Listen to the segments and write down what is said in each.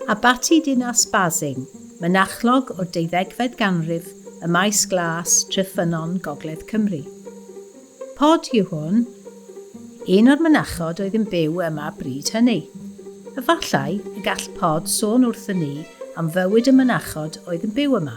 Abaty Dinas Basing, mynachlog o'r deuddegfed ganrif ym Maes Glas, Tref Ffynnon, Gogledd Cymru. Pod yw hwn. Un o'r mynachod oedd yn byw yma bryd hynny. Efallai y gall Pod sôn wrthyn ni am fywyd y mynachod oedd yn byw yma.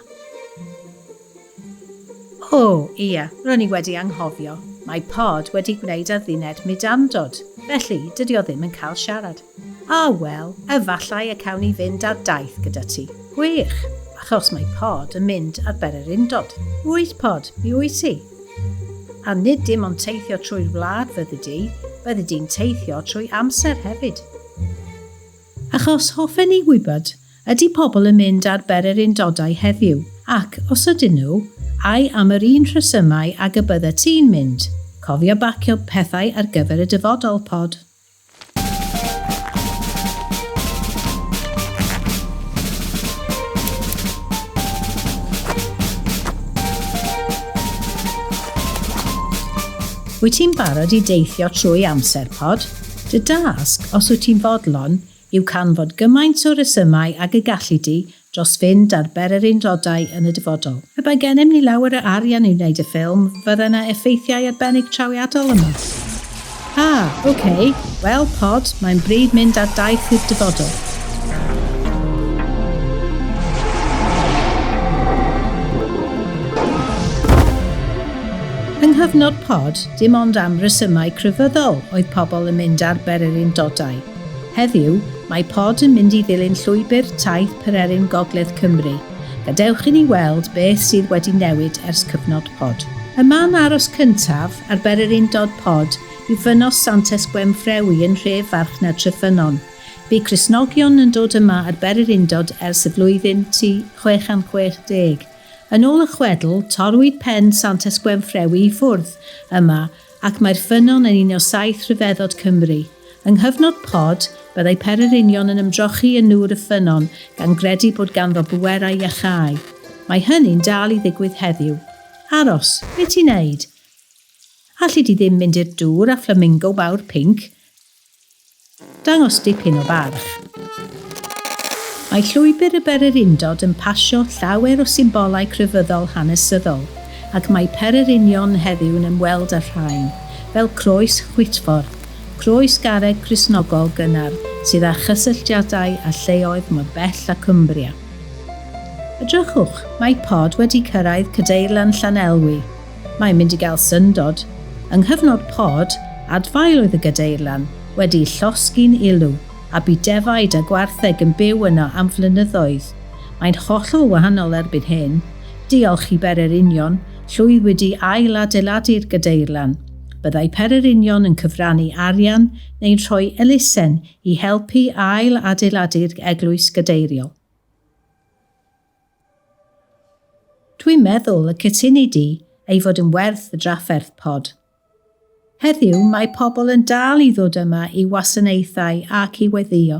O, ia, ro'n i wedi anghofio. Mae Pod wedi gwneud adduned mudamdod, felly dydy o ddim yn cael siarad. A, wel, efallai y cawn ni fynd ar daith gyda ti. Gwych! Achos mae Pod yn mynd ar bererindod. Wyt, Pod, mi wyt ti. A nid dim ond teithio trwy'r wlad fyddi di, byddi di'n teithio trwy amser hefyd. Achos hoffen ni wybod, ydy pobl yn mynd ar bererindodau heddiw, ac, os ydyn nhw, ai am yr un rhesymau ag y byddet ti'n mynd? Cofio bacio pethau ar gyfer y dyfodol, Pod. Wyt ti'n barod i deithio trwy amser pod? Dy dasg, os wyt ti'n fodlon, yw can fod gymaint o resymau ag y galli di dros fynd ar bererindodau yn y dyfodol. Pe bai gennym ni lawer o arian i wneud y ffilm, fydde na effeithiau arbennig trawiadol yma. Ha! Ok! Wel, Pod, mae'n bryd mynd ar daith i'r dyfodol. Yng nghyfnod Pod, dim ond am resymau crefyddol oedd pobl yn mynd ar bererindodau. Heddiw, mae Pod yn mynd i ddilyn llwybr taith Pererin Gogledd Cymru. Gadewch i ni weld beth sydd wedi newid ers cyfnod Pod. Y man aros cyntaf ar bererindod Pod yw Ffynos Santes Gwenffrewi yn nhref farchnad Treffynnon. Bu Cristnogion yn dod yma ar bererindod ers y flwyddyn tu 660. Yn ôl y chwedl, torrwyd pen Santes Gwenffrewi i ffwrdd yma ac mae'r ffynnon yn un o saith rhyfeddod Cymru. Yng nghyfnod Pod, byddai pererinion yn ymdrochi yn nŵr y ffynnon gan gredu bod ganddo bwerau iachau. Mae hynny'n dal i ddigwydd heddiw. Aros, be ti'n neud? Alli di ddim mynd i'r dŵr â fflamingo mawr pinc? Dangos dipyn o barch. Mae Llwybr y Bererindod yn pasio llawer o symbolau crefyddol hanesyddol, ac mae pererinion heddiw yn ymweld â'r rhain, fel Croes Chwitffordd, croes garreg Cristnogol gynnar sydd â chysylltiadau â lleoedd mor bell â Cumbria. Edrychwch, mae Pod wedi cyrraedd Cadeirlan Llanelwy! Mae'n mynd i gael syndod. Yng nghyfnod pod, adfail oedd y gadeirlan, wedi'i llosgi'n ulw, a bu defaid a gwartheg yn byw yno am flynyddoedd. Mae'n hollol wahanol erbyn hyn. Diolch i Bere'r Union, llwyddwyd i ail-adeiladu'r gadeirlan. Byddai Pere'r Union yn cyfrannu arian neu'n rhoi elusen i helpu ail-adeiladu'r eglwys gadeiriol. Dwi'n meddwl y cytuni di ei fod yn werth y drafferth, Pod. Heddiw mae pobl yn dal i ddod yma i wasanaethau ac i weddïo.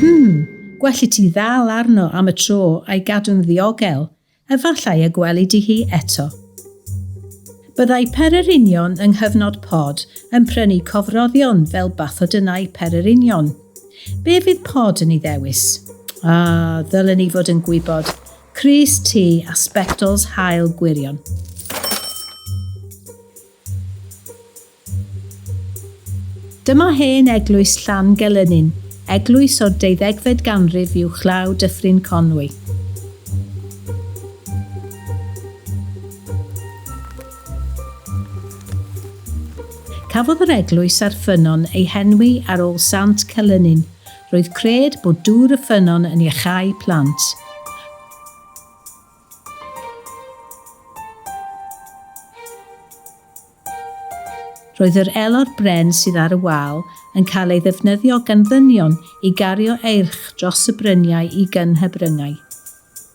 Hmm, gwell i ti ddal arno am y tro a'i gadw'n ddiogel, efallai y gweli di hi eto. Byddai pererinion yng nghyfnod pod yn prynu cofroddion fel bathodynnau pererinion. Be fydd pod yn ei ddewis? Ah, ddylen i fod yn gwybod. Crys Ty a Spectols Hael Gwirion. Dyma hen eglwys Llan Gelynnin, eglwys o'r deuddegfed ganrif uwchlaw Dyffryn Conwy. Cafodd yr eglwys a'r ffynnon ei henwi ar ôl Sant Celynnin, Roedd cred bod dŵr y ffynnon yn iachau plant. Roedd yr elor bren sydd ar y wal yn cael ei ddefnyddio gan ddynion i gario eirch dros y bryniau i gynhybryngau.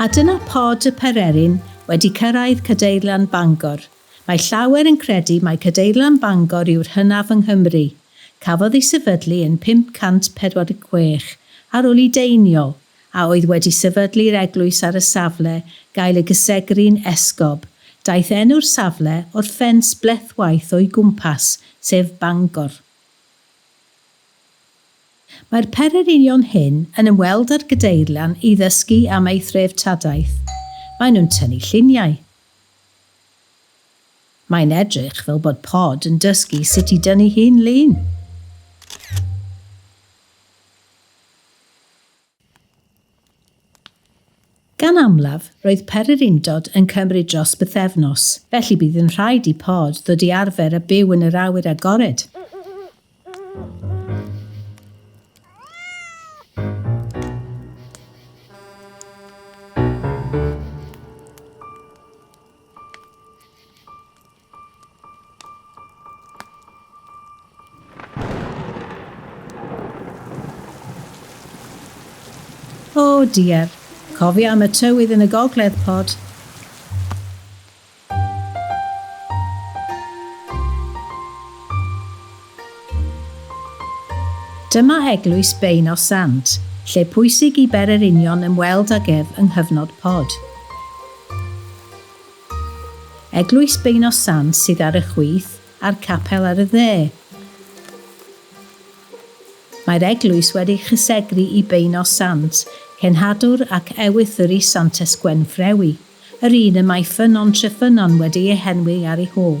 A dyna Pod y Pererin wedi cyrraedd Cadeirlan Bangor. Mae llawer yn credu mai Cadeirlan Bangor yw'r hynaf yng Nghymru. Cafodd ei sefydlu yn 546 ar ôl i Deiniol, a oedd wedi sefydlu'r eglwys ar y safle, gael ei gysegru'n esgob. Daeth enw'r safle o'r ffens blethwaith o'i gwmpas, sef Bangor. Mae'r pererinion hyn yn ymweld â'r Gadeirlan i ddysgu am ei threftadaeth. Maen nhw'n tynnu lluniau. Mae'n edrych fel bod Pod yn dysgu sut i dynnu hun lun. Gan amlaf, roedd pery'r undod yn cymryd dros bythefnos, felly bydd yn rhaid i Pod ddod i arfer a byw yn yr awyr agored. O oh dear, cofio am y tywydd yn y gogledd pod. Dyma eglwys Bein o Sant, lle pwysig i bererinion ymweld ag ef yng nghyfnod pod. Eglwys Beuno Sant sydd ar y chwith a'r capel ar y dde. Mae'r eglwys wedi chysegru i Beuno Sant, cenhadwr ac ewythr-i Santes Gwenffrewi, yr un y mae Ffynnon Treffynnon wedi ei henwi ar ei hôl.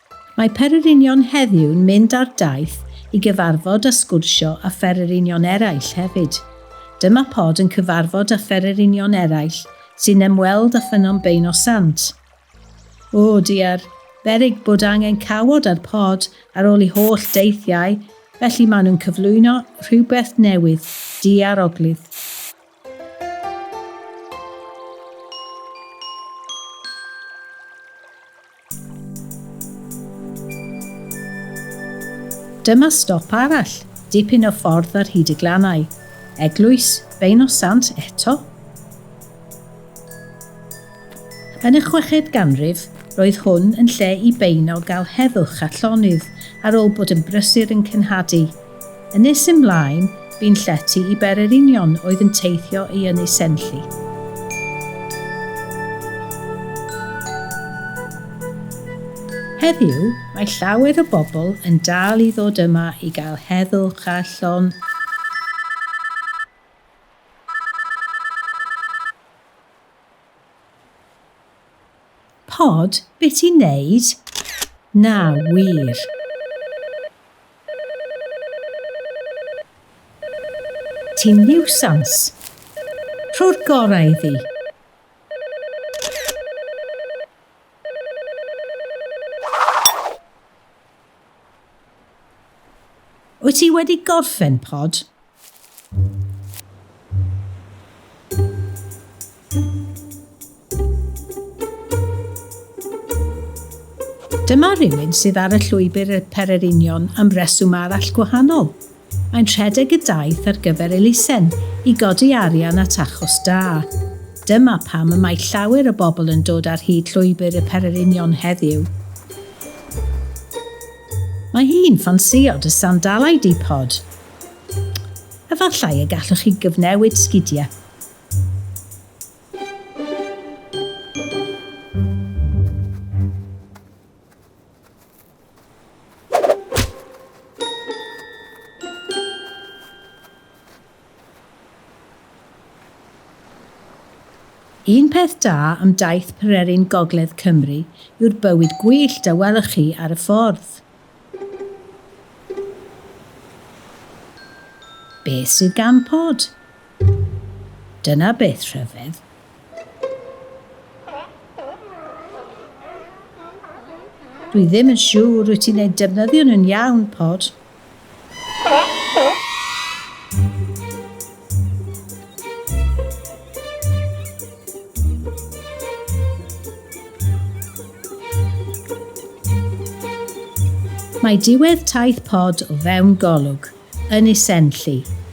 Mae Pererinion heddiw'n mynd ar daith i gyfarfod a sgwrsio â Phererinion eraill hefyd. Dyma Pod yn cyfarfod â Phererinion eraill sy'n ymweld â Ffynnon Beino Sant. O, diar, beryg bod angen cawod ar Pod ar ôl ei holl deithiau, felly maen nhw'n cyflwyno rhywbeth newydd, diar oglydd. Dyma stop arall, dipyn o ffordd ar hyd y glannau. Eglwys Bein o Sant eto? Yn y chweched ganrif, roedd hwn yn lle i beino gael heddwch a llonydd ar ôl bod yn brysur yn cenhadu. Yn nes ymlaen, bu'n llety i bererinion oedd yn teithio i Ynys Enlli. Heddiw, mae llawer o bobl yn dal i ddod yma i gael heddwch a llon Pod, be ti'n neud? Na, wir. Ti'n niwsans. Rho'r gorau iddi. Wyt ti wedi gorffen, Pod? Dyma rywun sydd ar y llwybr i'r Pererinion am reswm arall gwahanol. Mae'n rhedeg y daith ar gyfer elusen i godi arian at achos da. Dyma pam y mae llawer o bobl yn dod ar hyd llwybr y Pererinion heddiw. Mae hi'n ffansïo dy sandalau di, Pod. Efallai y gallwch chi gyfnewid sgidiau. Un peth da am daith Pererin Gogledd Cymru yw'r bywyd gwyllt a welwch chi ar y ffordd. Beth sydd gan Pod? Dyna beth rhyfedd. Dwi ddim yn siŵr wyt ti'n eu defnyddio nhw'n iawn, Pod. Mae diwedd taith pod o fewn golwg yn Isenlli.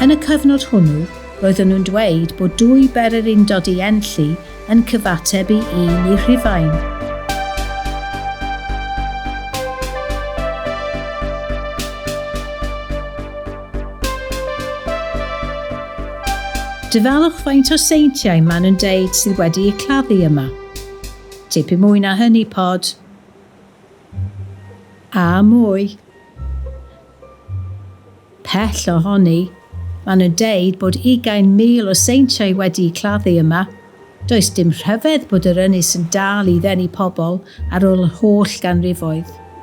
Yn y cyfnod hwnnw, roedden nhw'n dweud bod dwy bery'r undod i Enlli yn cyfateb i un i Rhufain. Dyfalwch faint o seintiau maen nhw'n deud sydd wedi'u claddu yma. Tipyn mwy na hynny, Pod. A mwy. Pell ohoni. Maen nhw'n deud bod ugain mil o seintiau wedi'u claddu yma. Does dim rhyfedd bod yr ynys yn dal i ddenu pobl ar ôl yr holl ganrifoedd.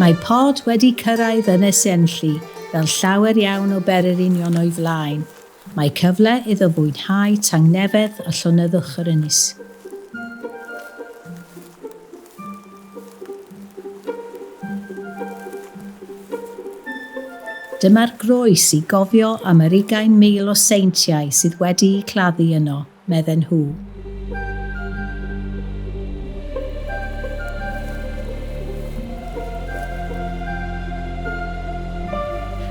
Mae Pod wedi cyrraedd Ynys Enlli fel llawer iawn o bererinion o'i flaen, mae cyfle iddo fwynhau tangnefedd a llonyddwch yr ynys. Dyma'r groes i gofio am yr ugain mil o seintiau sydd wedi'u claddu yno. medden nhw.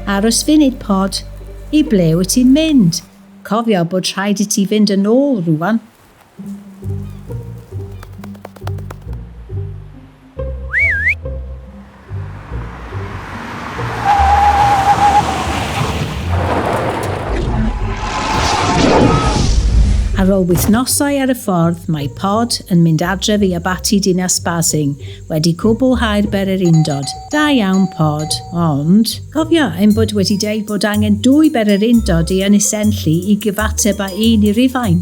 Aros funud Pod, i ble wyt ti'n mynd? Cofio bod rhaid i ti fynd yn ôl rŵan. Ar ôl wythnosau ar y ffordd, mae Pod yn mynd adref i Abaty Dinas Basing wedi cwblhau'r bere'r undod. Da iawn Pod, ond cofia ein bod wedi deud bod angen dwy bere'r undod i Ynys Enlli i gyfateb â un i Rufain.